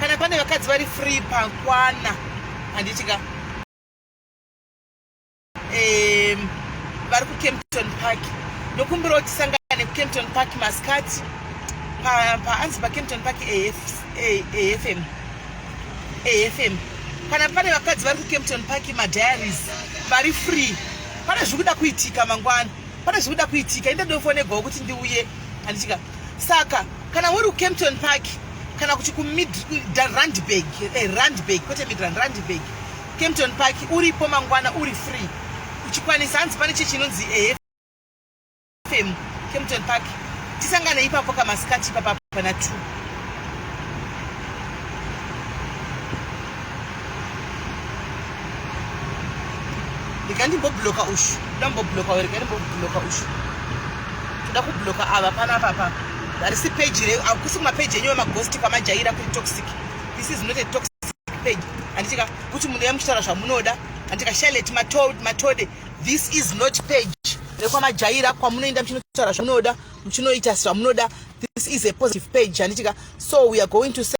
kana pane vakadzi vari free pakwana handiti ka um, vari kucampton park ndokumbirawo tisangane kucampton park masikati paanzi pa pacampton park afm afm kana pane vakadzi vari kucampton park madiaries vari free pane zviri kuda kuitika mangwana pane zviri kuda kuitika inda ndofonegwawo kuti ndiuye handitika saka kana uri kucampton park kana kuti kumidrandbag eh, randbag kwete midrand randbag campton park uripo mangwana uri free uchikwanisa hanzi pane chechi inonzi efm campton park tisangane ipapo kamasikati ipapa pana t ndikandimbobloka ushu ndambobloka werekandimboblocka ushu toda kubloka ava panapapa Harisi page reyo, hakusi kumapage enyu vemaghost kwamajaira kuri toxic. This is not a toxic page. Handitika kuti munhu yamuchitaura zvamunoda. Handitika Charlotte Matode. This is not page rekwamajaira kwamunoenda muchinotaura zvamunoda muchinoita zvamunoda. This is a positive page. Handitika so we are going to say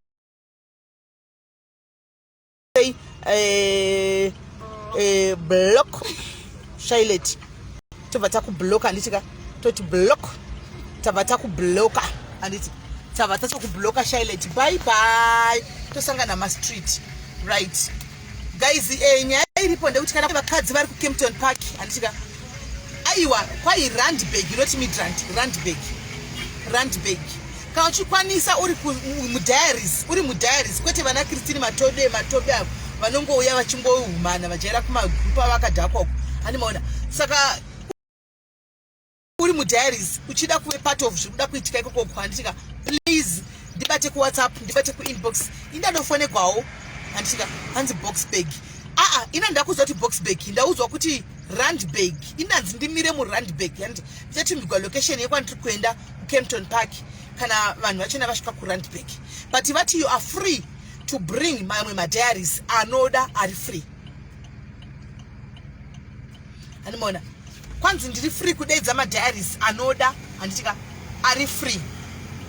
say eh, eh, block shilet tobva takubloka handiti ka toti block tabva takubloka handiti tabva tatokubloka shilet bye bye tosangana mastreet right guys eh, nyaya iripo ndekuti kana vakadzi vari kucampton park handiti ka aiwa kwai randbag not midrand randbag randbag Kana uchikwanisa uri mudiaries, uri mudiaries kwete vana Christine Matobe Matobe avo vanongouya vachingohumana vajaira kumagroup avo akadhakwa uko. Hani maona. Saka uri mudiaries uchida kuve part of zviri kuda kuitika ikoko kuhanditika please ndibate kuwhatsapp ndibate kuinbox indadofonegwawo handitika hanzi boxbag aa ina ndakuziva kuti boxbag ndaudzwa kuti randbag indanzi ndimire murandbag and ndichatumirwa location yekwandiri kuenda Kempton Park kana vanhu vachena vasvika kuRandburg but vati you are free to bring mamwe madiaries anoda ari free animona kwanzi ndiri free kudeidza madiaries anoda handitika ari free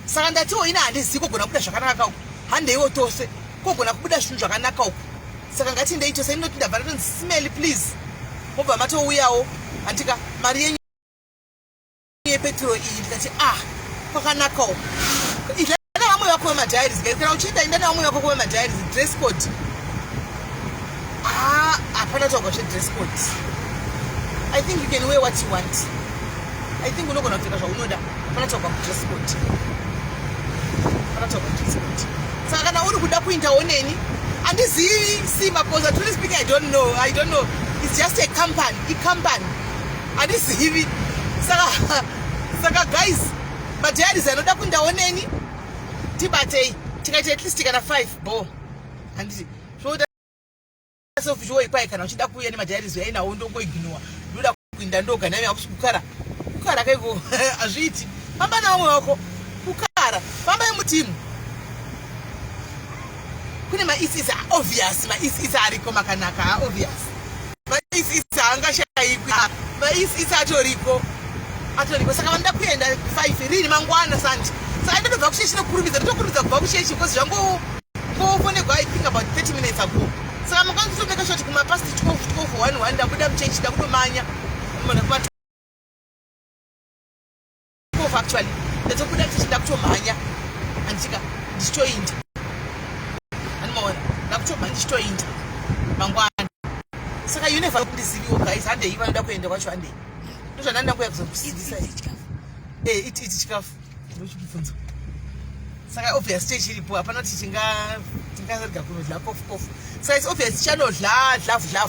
saka ndatiwo ina handizivi kogona kubuda zvakanaka kauku handeiwo tose kogona kubuda zvinhu zvakanaka uku saka ngatiendei tose inoti ndabva ndatonzi smell please mobva matouyawo handitika mari yenyu yepetro iyi ndikati ah kwakanakawo idla nevamwe vako vemadiaries guys kana uchienda inda nevamwe vako ko vemadiaries dress code ah hapana taugwa zvedress code i think you can wear what you want i think unogona kupfeka zvaunoda hapana taugwa kudress code hapana taugwa kudress code saka kana uri kuda kuindawo neni andizivi simba because atuli speaking i don't know i don't know it's just a company icompany handizivi saka saka guys madiaries anoda kundaoneni tibatei tikaita at least kana five bo handiti zvoda sofuchiwoipai kana uchida kuuya nemadiaries yainawo ndongoignowa ndoda kuinda ndoga nami akusi kukara kukara kaiko hazviiti famba navamwe wako kukara famba yemutimu kune maisisa obvious maisisa ariko makanaka obvious maisisi haangashaikwi ah, maisisi atoriko atoriko saka vanoda kuenda five rini mangwana sandi saka ndotobva kusheshi nokurumidza ndotokurumidza kubva kusheshi because zvango ngofonegwa i think about 30 minutes ago saka mangwana totomeka shoti kumapast 12 12 1 1 ndabuda muchechi ndakutomanya mona Move actually. Ndatobuda ndichida kutomhanya. Andika ndichitoinda. Anomaona. Ndakutomhanya ndichitoinda. Mangwana. Saka you never kundiziviwo guys. Hande iva ndoda kuenda kwacho hande. Ndozvananda kuya kuzokusidzisa. Eh, iti iti chikafu. Ndochikubvunza. Saka obvious stage iripo hapana kuti tinga tinga rega kunodla kofu kofu. Saka it's obvious chano dla dla dla.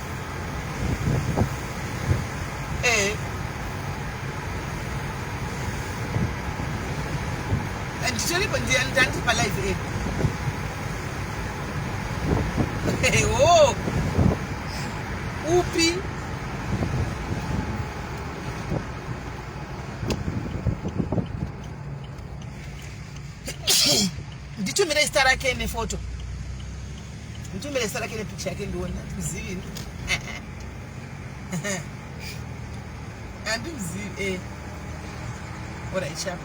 Eh. And sorry, but they are done for life. Eh. Hey, oh. Upi. Nditumire zita rake nefoto. Nditumire sara kene picture yake ndione kuzivi ndo. Andizivi eh. Ora ichapa.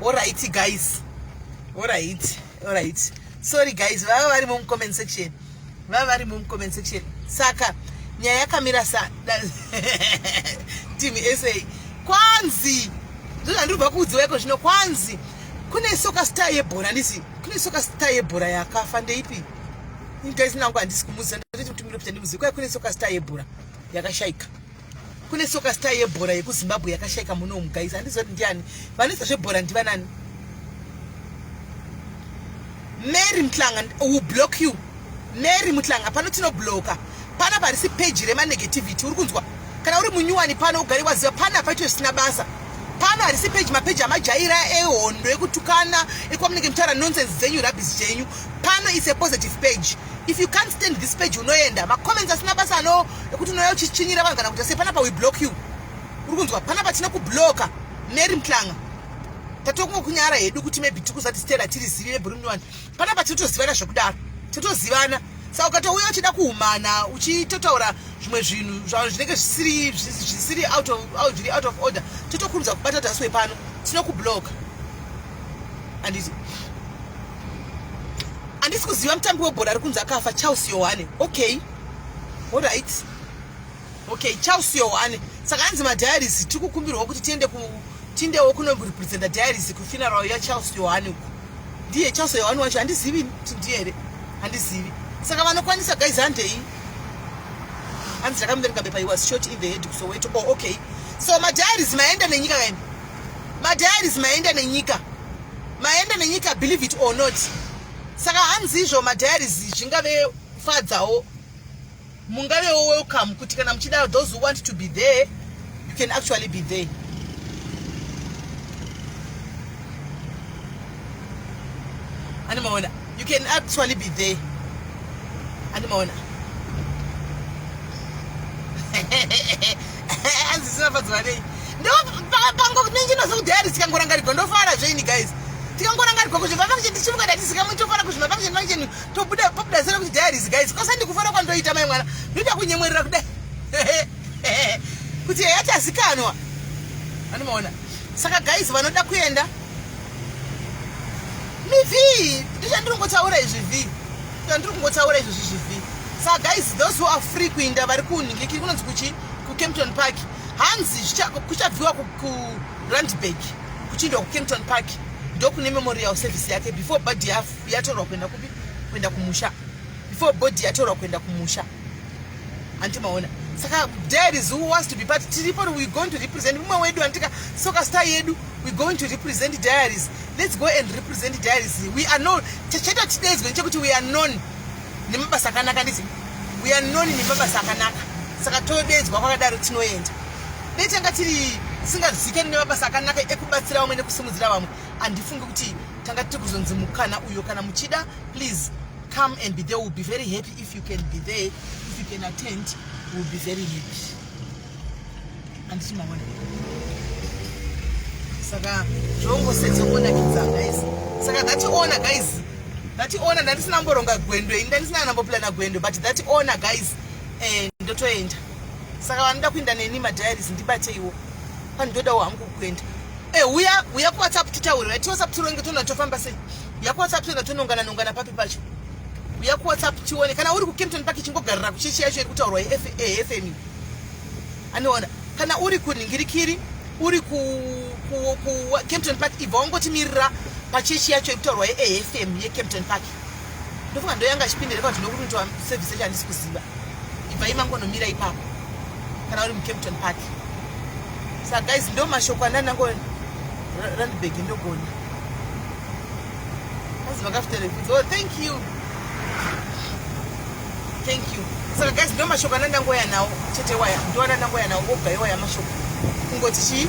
Ora iti guys. Ora iti. alright sorry guys vava vari mu comment section vava vari mu comment section saka nyaya yakamira sa team sa kwanzi ndozvandiri kubva kuudziwa iko zvino kwanzi kune soka star yebhora handisi kune soka star yebhora yakafa ndeipi guys nangu handisi kumuziva ndati kuti miri kuti ndimuzivi kwai kune soka star yebhora yakashaika kune soka star yebhora yekuzimbabwe yakashaika muno umu guys handizoti ndiani vanisa zvebhora ndivanani mary mutlanga will block you mary mutlanga pano tinobloka pana parisi peji remanegativity uri kunzwa kana uri munyuwani pano ugari waziva pana paito zvisina basa pano harisi peji mapeji amajaira ehondo ekutukana ekwamunenge mutaura nonsense dzenyu rabis dzenyu pano is a positive page If you can't stand this page unoenda. Ma comments asina basa no ekuti unoya uchichinyira vanhu kana kuti sepana pa we block you. Uri kunzwa pana patina ku blocker Mary Mtlanga. Tatokungo kunyara hedu kuti maybe tikuzati Stella tiri zivi ne Bruno one. Pana patina tozivana zvekudaro. Totozivana. Saka ukatouya uchida kuhumana uchitotaura zvimwe zvinhu zvavo zvinenge zvisiri zvisiri out of out, out of order totokurudza kubata taswe pano tinoku blocker. Anditi. handisi kuziva mutambi webhora ari kunzi akafa charles yohane okay orit okay charles yohane saka anzi madiaries tiri kukumbirwa kuti tiende tindewo kunorepresenta diaries kufinarao yacharles yohane uku ndiye charles yohane wacho handizivi kuti ndiye here handizivi saka vanokwanisa guys handei hanzi ndakamuverenga bepa he was short in the head kusoweto oh okay so madiaries maenda nenyika kaini madiaries maenda nenyika maenda nenyika believe it or not saka hanzi izvo madiaries zvingave fadzawo mungavewo welcome kuti kana muchida those who want to be there you can actually be there ani maona You can actually be there. Andimaona. Hanzi sina fadzwa nei. Ndo pango ningi no so there tikangoranga rigo ndo fara zveini guys. Tikangoranga rigo kuti vava kuti tichimuka dati sika mucho fara kuti vava kuti nanje to buda popular sero kuti there is guys. Kosa ndikufara kwa ndoita mai mwana. Ndoita kunyemwerera kudai. Kuti yacha sikanwa. Andimaona. Saka guys vanoda kuenda mivii ndichandiri kungotaura izvi vii ndandiri kungotaura izvozvi zvivii sa guys those who are free kuinda vari kunhingikiri kunonzi kuchi kucampton park hanzi kuchabviwa kurandburg kuchiindwa kucampton park ndokune memorial service yake before body yatorwa kuenda kupi kuenda kumusha before body yatorwa kuenda kumusha Anti maona. Saka dad is who wants to be part. Tiripo we going to represent mumwe wedu antika soka star yedu we going to represent diaries. Let's go and represent diaries. We are known. Chacheta today's going to we are known. Nemabasa akanaka ndizi. We are known nemabasa akanaka. Saka todedzwa kwakadaro tinoenda. Dai tanga tiri tisingazikani nemabasa akanaka ekubatsira vamwe nekusimudzira vamwe handifungi kuti tanga tiri kuzonzi mukana uyo kana muchida please come and be there will be very happy If you can be there, if you can attend, we'll be very happy. Anditi maona. Saka zvongo sedza kuona kidza guys. Saka that owner guys. That owner ndandisina mboronga gwendo, ndandisina nambo plana gwendo, but that owner guys eh ndotoenda. Saka vanoda kuenda neni ma diaries ndibateiwo. Pandodawo hangu kuenda. Eh uya uya ku WhatsApp titaure. Right? WhatsApp tironge tona tofamba sei? Uya kuwhatsapp toenda tonongana nongana papi pacho. Uya kuwhatsapp tione kana uri kuKempton Park chingogarira kuchechi yacho iri kutaurwa yeFME. Anoona kana uri kuningirikiri uri ku, ku, ku Kempton Park ibva wangotimirira pachechi yacho yekutaurwa yeAFM yeKempton Park ndofunga ndoyanga achipindira kuti ndokunoitwa service yacho handisi kuziva ibva imangonomira ipapo kana uri muKempton Park sa guys ndo mashoko andanango randbag ndogona That's my after Oh, thank you. Thank you. Saka so guys, ndo mashoko anandangoya nawo chete waya. Ndo anandangoya nawo oga iwaya mashoko. Kungoti chi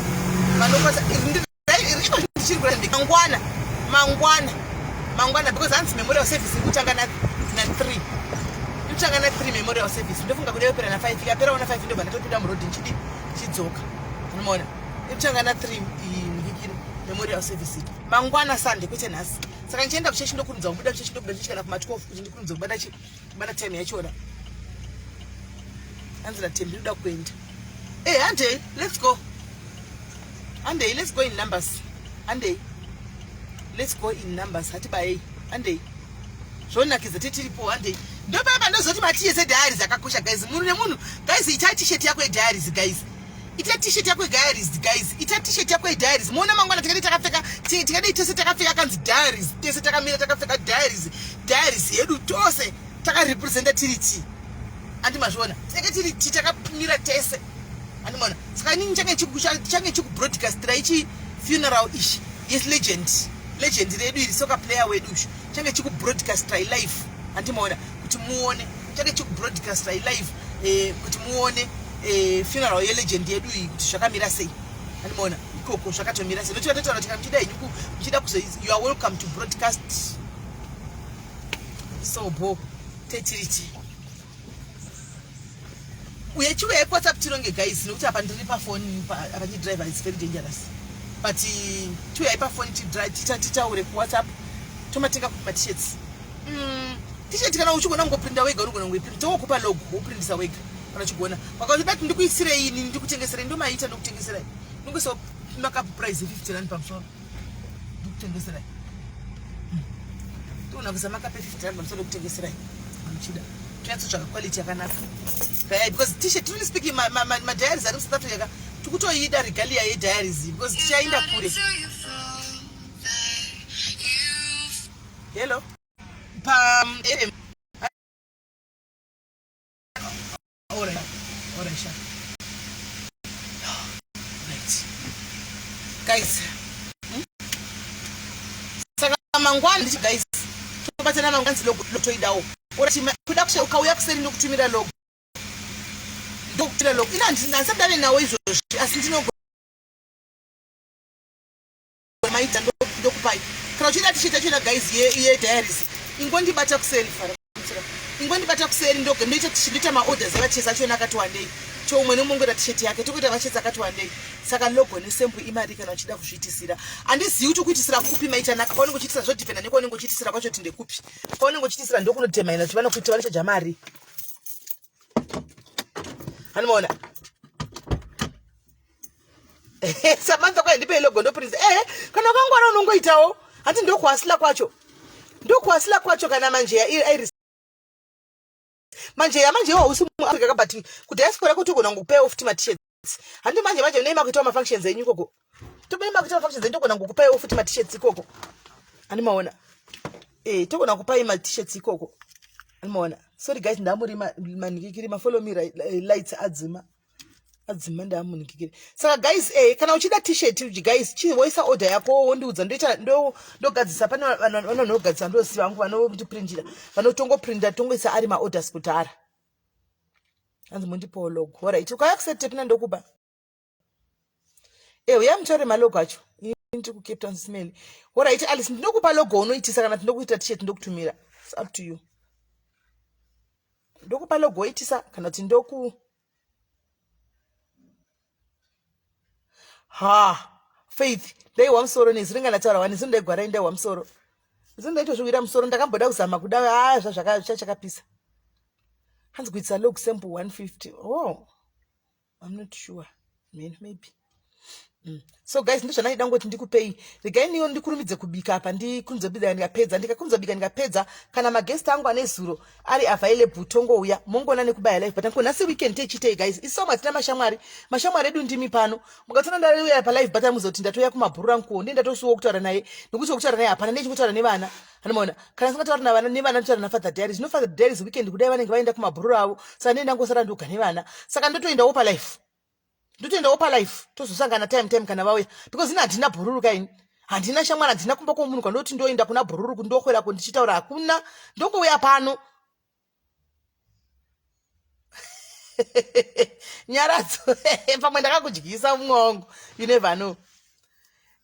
vanopata ndichiri kuramba mangwana mangwana mangwana because hanzi memorial service ikutanga na 3 ikutanga na 3 memorial service ndofunga kuti yopera na 5 ikapera ona 5 ndobva ndatopinda murodhi ndichidi chidzoka unomaona Ichangana 3 mhikiro memorial service mangwana sande kwete nhasi saka ndichaenda kuchechi ndokurumidza kubuda kuchechi ndobuda kuchechi kana kuma12 kuti ndikurumidza kubata chi kubata time yachona hanzi natembi ndoda kuenda e eh, handei let's go handei let's go in numbers handei let's go in numbers hatibayei handei zvonakidza titiripo handei ndopapa ndozoti matiyese diaries akakosha guys munhu nemunhu guys itai tisheti yako yediaries guys ita t-shirt yako diaries guys ita t-shirt yako diaries muona mangwana tikadei takapfeka tikadei tese takapfeka kanzi diaries tese takamira takapfeka diaries diaries yedu tose takarepresenta tiri ti andi mazviona teke tiri ti takamira tese andimona saka inini change change chikubroadcastira ichi funeral ichi yes legend legend redu iri soka player wedu uyu change chikubroadcastira ilife andimaona kuti muone change chikubroadcastira ilife eh, kuti muone e, funeral yelegend yedu iyi kuti zvakamira sei andimaona ikoko zvakatomira sei nochika totaura tika muchida henyu muchida kuzo you are welcome to broadcast so bo tetiriti uye chiuya ikwhatsapp tironge guys nokuti apa ndiri pafoni apa ndidriver is very dangerous but chiuya ipafoni titaure kuwhatsapp tomatenga kuti matishets mm, tisheti kana uchigona kungoprinda wega unogona kungoiprinda wokupa log woprindisa wega vachigona vakaona dati ndikuisirei ini ndikutengeserei ndomaita ndokutengeserai ndingoisa makapu prize 50 rand pamusoro ndikutengeserai hmm. toona kuisa makapu 50 rand pamusoro ndokutengeserai muchida tinatsotsvaga quality yakanaka gaya because tishe truly speaking madiaries ari musatatu yaka tikutoida regalia yediaries because tichaenda kure hello pa guys hmm? saka mangwana ndichi guys tobatsana mangwana zilotoidawo kuda kushe ukauya kuseri ndokutumira logo ndokutumira logo ina handisati ndave nawo izvozvi asi ndinogona maita ndokupai kana uchiita tichiita chena guys yediaries ingondibata kuseri fara ingondibata kuseri ndoge ndoita tichindoita maorders evachesi achona akati wandei to umwe neumwe ngoita tisheti yake tokuita vachesi akati wandei saka logo nesembu imari kana uchida kuzviitisira handizivi kuti ukuitisira kupi maitanaka paunenge uchiitisa zvodhipenda nekwaunenge uchiitisira kwacho kuti ndekupi paunenge uchiitisira ndokunodhemaina kuti vanokuita vanochaja mari hanimaona samantha kwai ndipe ilogo ndoprince ehe eh, kana ukangwara unongoitawo hati ndokuhasila kwacho ndokuhasila kwacho kana manje yairi manje yamanje iwo hausi muafrica ka but kudiaspora kutogona ngokupay off timatishets handi manje manje nei makuitawo mafunctions enyu ikoko tobei makuitawo mafunctions enyu togona ngokupay off timatishets ikoko handi maona eh togona kupai matishets ikoko handi maona sorry guys ndamurima manikikirima follow me eh, lights adzima adzimai ndaamunikikire saka guys eh, kana uchida t-shirt uji guys chi woisa order yako wondiudza ndoita ndogadzisa pane vanhu vanogadzisa ndosiva vangu vanondiprindira vanotongoprindira tongoisa ari maorders kudhara anzi mundipowo log horit ukaya kusetepina ndokuba Eh, uya mutore malogo acho ndiri kucape town smell horaiti alice ndinokupa logo unoitisa kana tinokuita tishet ndokutumira its up to you ndokupa logo oitisa kana kuti ndoku ha faith ndaihwa musoro nezwi ringa ndataura wani zino ndaigwara indaihwa musoro zino ndaitozviwira musoro ndakamboda kuzama kuda a zvazvakachakapisa hanzi kuitisa log sample 150 oh I'm not sure man maybe mm. so guys ndozvandaida ngoti ndikupei regai niyo ndikurumidze kubika apa ndikunze bika ndikapedza ndikakunze bika ndikapedza kana maguest angu ane zuro ari available tongouya mongoona nekubaya life but anko nhasi weekend techitei guys isomu hatina mashamwari mashamwari edu ndimi pano mukatoona ndauya palife but amuzoti ndatoya kumabhuru rangu kuwo ndiye ndatosuwa kutaura naye nokuti wekutaura naye hapana ndiye chikutaura nevana anomaona kana singatauri navana nevana ndichara nafather diaries no father diaries weekend kudai vanenge vaenda kumabhururu avo saka ndee ndangosara ndoga nevana saka ndotoendawo palife ndotoendawo palife tozosangana time time kana vauya because ini handina bhururu kaini handina shamwari handina kumba kwomunhu kwandoti ndoenda kuna bhururu kundokwera kundichitaura hakuna ndongouya pano nyaradzo pamwe ndakakudyisa umwe wangu you never know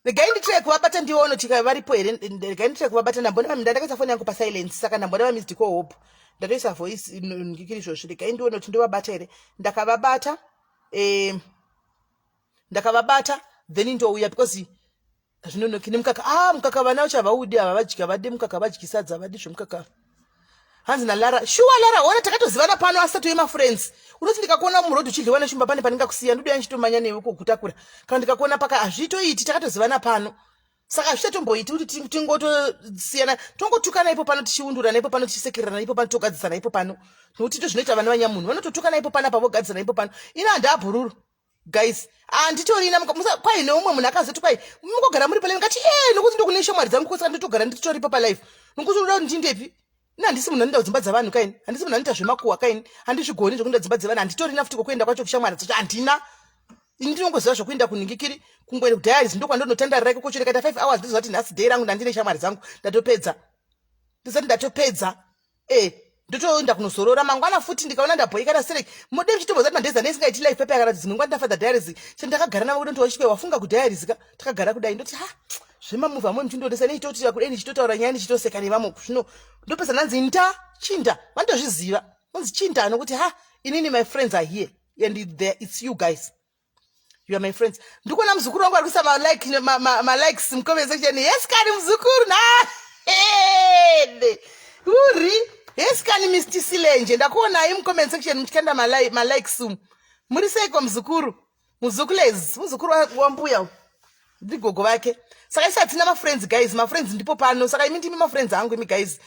regai nditire kuvabata ndione kuti varipo here regai nditire kuvabata ndambona vami ndandakaisa foni yangu pasilence saka ndambona vami zidiko hope ndatoisa voice ndikiri izvozvi regai ndione kuti ndovabata here ndakavabata um ndakavabata then ndouya because zvinonoki nemukaka ah mukaka vana vacho havaudi ava vadyi havadi mukaka vadyi sadza havadi zvemukaka hanzi nalara shuwa lara ona takatozivana pano asi tatoye mafriends unoti ndikakuona muroad uchidliwa neshumba pane pandingakusiya ndodoya ndichitomanya newe kokutakura kana ndikakuona paka hazviitoiti takatozivana pano saka hazvichatomboiti kuti tingotosiyana tongotukana ipo pano tichiundurana ipo pano tichisekererana ipo pano togadzisana ipo pano nokuti ndo zvinoita vana vanyamunhu vanototukana ipo pano apa vogadzisana ipo pano ina handaabhururu guys handitorina kwai neumwe munhu akazoti kwai mukogara muri palife ngati ee nokuti ndokune shamwari dzangu kwese kanditogara nditoripa palife nokuti unoda kuti ndindepi ini handisi munhu anoinda kudzimba dzevanhu kaini handisi munhu anoita zvemakuwa kaini handizvigoni zvekuinda dzimba dzevanhu handitorina futi kokuenda kwacho kushamwari dzacho handina ini ndinongoziva zvokuinda kunhingikiri kungoenda kudiaries ndokwandonotandara rake kocho rikaita five hours ndizovati nhasi day rangu ndandine shamwari dzangu ndatopedza ndizati ndatopedza eh ndotoenda kunozorora mangwana futi ndikaona ndabhoikana sere mode muchitomboza kuti mandeza nesingaiti life pepe yakati dzimwe nguva ndafadha diaries chandakagara navo kuti ndoti wafunga kudiaries ka takagara kudai ndoti ha zvemamuvi amwe muchindionesa nechitotira kudai ndichitotaura nyaya ndichitoseka nevamwe zvino ndopesa ndanzi nda chinda vanotozviziva nonzi chinda nokuti ha inini my friends are here and there it's you guys You are my friends. Ndikuona mzukuru wangu arikuisa ma like ma, ma, ma likes in comment section. Yes kani mzukuru na head. Uri. Yes kani Mr. Silenje. Ndakuona in comment section mchikanda ma like ma likes. Muri sei kwa mzukuru? Mzukulezi, mzukuru wa mbuya. ndigogo vake saka isi hatina mafriends guys mafriends ndipo pano saka imi ndimi mafriends angu imi guys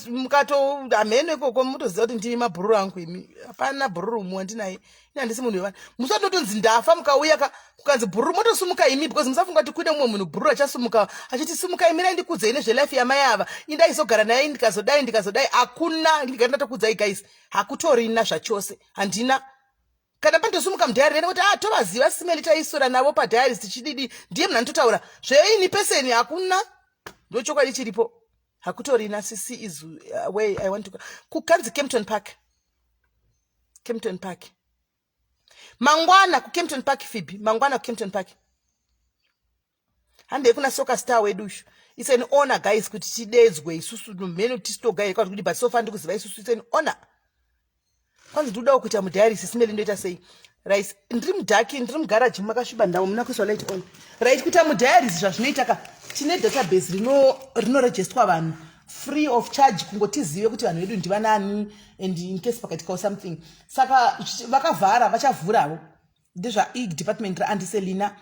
mukatohamheno ikoko mutoziva kuti ndimi mabhururu angu imi hapana bhururu umwe wandinaye ini handisi munhu wevana musatotonzi ndafa mukauya ka kukanzi bhururu motosumuka imi because musafunga kuti kuine mumwe munhu bhururu achasumuka achiti sumuka imi raindikudzai nezvelife yamai ava indaizogara naye ndikazodai ndikazodai hakuna ndigari ndatokudzai guys hakutorina zvachose handina kana pandosimuka mudhayari rene kuti a ah, tovaziva simeli taiswera navo padhayaris tichididi ndiye munhu anototaura zveini peseni hakuna ndochokwadi chiripo hakutorina sisi is uh, way i want to kukanzi campton park campton park mangwana kucampton park fibi mangwana kucampton park handei kuna soka star wedu ushu its an honor guys kuti tidedzwe isusu nomheno tisitogaire kwati kuti but sofa ndikuziva isusu its an honor kwanzi ndikudawo kuita mudiaris simeli ndoita sei right ndiri mudhaki ndiri mugaraji makasviba ndavo muna kuiswa light on right kuita mudiaris zvazvinoita ka tine database rinorejestwa rino vanhu free of charge kungotizive kuti vanhu vedu ndivanani and incase pakaitika something saka vakavhara vachavhuravo ndezvaig department raandiselina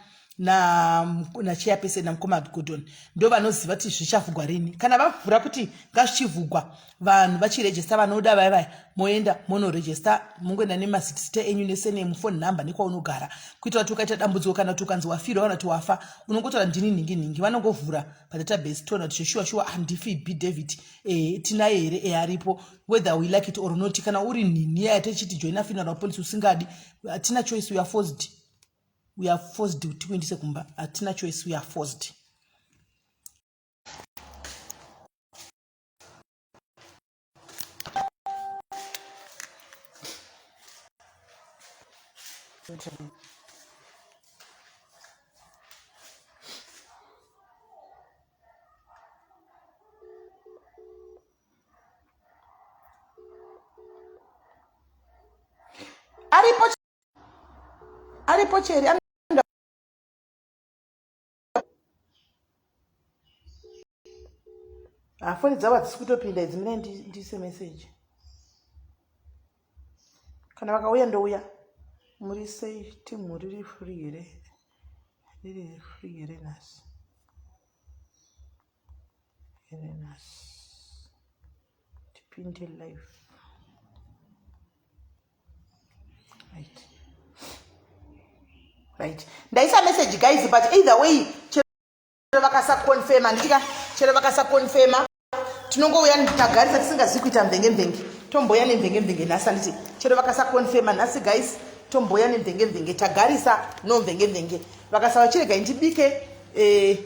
nacheapese na namukoma gordon ndo vanoziva kuti zvichavhugwa rini kana vavhura kuti ngazvichivhugwa vanhu vachirejesta vanoda vaya vaya moenda monorejesta mongoenda nemazita enyu nesenemu fone number nekwaunogara kuitira kuti ukaita dambudziko kana kuti ukanzi wafirwa kana kuti wafa unongotaura ndini nhingi nhingi vanongovhura padatabase toona kuti zveshuwa shuwa handifi b david e, tinaye here e aripo whether we like it or not kana uri nhinhi yaya techiti joina funeral policy usingadi hatina choice we are forced we are forced kuti kuendise kumba hatina choice we are forced aripo aripo cheri hafoni dzavo hadzisi kutopinda idzi mine ndiise meseji kana vakauya ndouya muri sei timu riri free here riri free here nhasi Herenas tipinde live right right ndaisa message guys but either way chero vakasakonfema nditika chero vakasakonfema tinongouya tagarisa tisingazivi kuita mvenge mvenge tomboya nemvenge mvenge nhasi anditi chero vakasakonfema nhasi guys tomboya nemvenge mvenge tagarisa nomvenge mvenge vakasava chiregai ndibike eh,